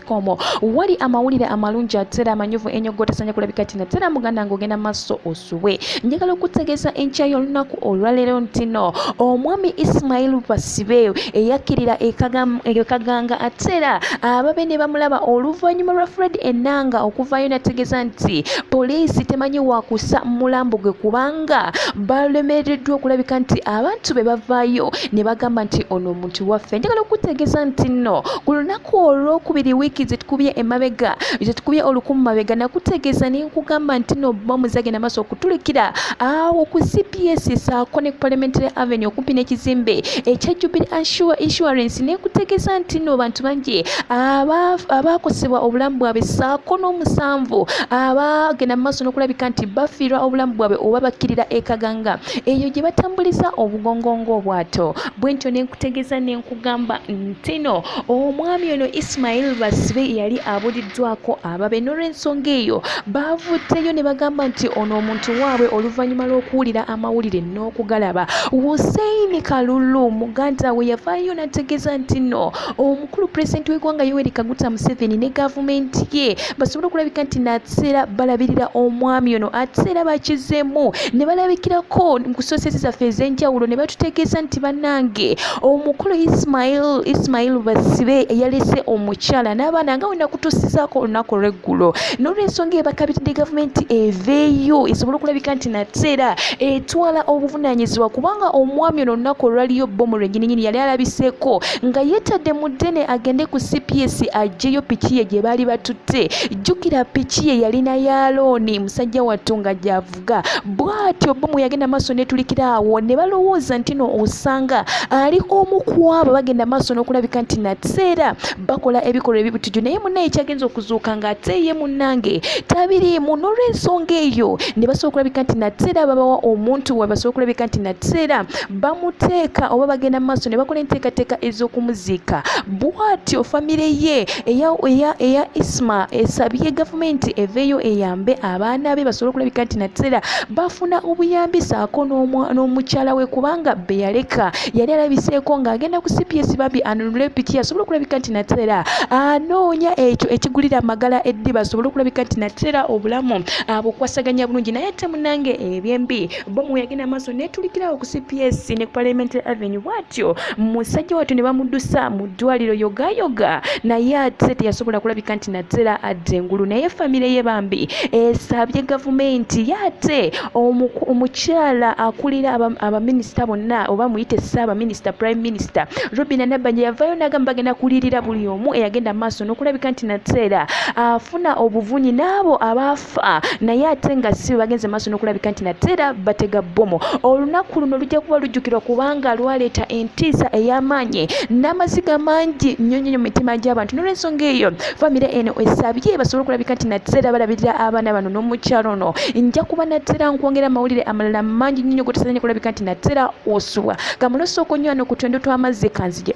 komo wali amawulire amalungi atera amanyuvu enyo gotesanya kulabika tina tera muganda nga ogenda maso osubwe njagala okutegeeza enkya y'olunaku olwaleero ntino omwami ismail basibe eyakkirira ekaganga atera ababe ne bamulaba oluvannyuma lwa fred enanga okuvaayo nategeeza nti poliisi temanyi wakusa mulambo gwe kubanga balemereddwa okulabika nti abantu be bavaayo ne bagamba nti ono Kati waffe njagala okukutegeeza nti nno ku lunaku olwokubiri wiiki zetukubye emabega zetukubye olukumu mabega nakutegeeza ne nkugamba nti nno bbomu zagenda maaso okutulikira awo ku cps saako ne ku parliamentary avenue okumpi n'ekizimbe ekya jubilee assure insurance ne nkutegeeza nti nno bantu bangi abaakosebwa obulamu bwabwe saako n'omusanvu abagenda mu maaso n'okulabika nti bafiirwa obulamu bwabwe oba bakkirira ekaganga eyo gye batambuliza obugongo ng'obwato bwentyo ne nkutegeeza ne nkugamba ntino omwami ono isimayili basibe yali abuliddwako ababe n'olwensonga eyo baavuddeyo ne bagamba nti ono omuntu waabwe oluvannyuma lw'okuwulira amawulire n'okugalaba hussein kalulu muganda we yavaayo n'ategeeza nti no kulu pulezidenti w'eggwanga yoweri kaguta museveni ne gavumenti ye basobole okulabika nti nateera balabirira omwami ono ate era bakizemu ne balabikirako mu kusoosezi zaffe ez'enjawulo ne batutegeeza nti bannange omukulu ismail ismail basibe yalese omukyala n'abaana nga wena kutuusizaako olunaku olw'eggulo n'olwensonga ebakabiridde gavumenti eveeyo esobole okulabika nti nateera etwala obuvunaanyizibwa kubanga omwami ono olunaku olwaliyo bbomu lwenyininyini yali alabiseeko nga yeetadde mu ddene agende ku cps ajjeyo piki ye gye baali batutte jjukira piki ye yalina ya looni musajja wattu nga gyavuga bw'atyo bomu yagenda maaso netulikira awo ne balowooza nti no osanga ali omu ku abo bagenda maaso n'okulabika nti nateera bakola ebikolwa ebibutujju naye munnaye kyagenza okuzuuka ng'ate ye munnange tabiriimu n'olwensonga eyo ne basobola okulabika nti nateera babawa omuntu we basobola okulabika nti nateera bamuteeka oba bagenda mu maaso ne bakola enteekateeka ez'okumuziika bwatyo famire ye eya isma esabye gavumenti eveeyo eyambe abaana be basobole okulabika nti nateera bafuna obuyambi saako n'omukyala we kubanga be yaleka yali alabiseeko ng'agenda ku cps bambi anunule piki asobole okulabika nti nateera anoonya ekyo ekigulira amagala eddiba asobole okulabika nti nateera obulamu abukwasaganya bulungi naye ate munange ebyembi bomu yagenda maaso netulikirawo ku cps ne parliamentary avenue bwatyo musajja watu ne bamudusa mu ddwaliro yogayoga naye ate teyasobola kulabika nti naddera adda engulu naye famire ye bambi esabye gavumenti yate omukyala akulira abaminisita bonna oba muyite saabaminisita prime minister robina nabanja yavayo nagamba bagenda kulirira buli omu eyagenda maaso nokulabika nti naddera afuna obuvunyi naabo abaafu kufa naye ate nga si bagenze maaso n'okulabika nti nate era batega bbomu olunaku luno lujja kuba lujjukirwa kubanga lwaleeta entiisa ey'amaanyi n'amaziga mangi nnyo nnyo mu mitima gy'abantu n'olwensonga eyo famire eno esabye basobole okulabika nti nate era balabirira abaana bano n'omukyalo ono nja kuba nate era nkwongera amawulire amalala mangi nnyo nnyo gotasazanye kulabika nti nate era osubwa kamulosa okunywa no ku twendo tw'amazzi kanzije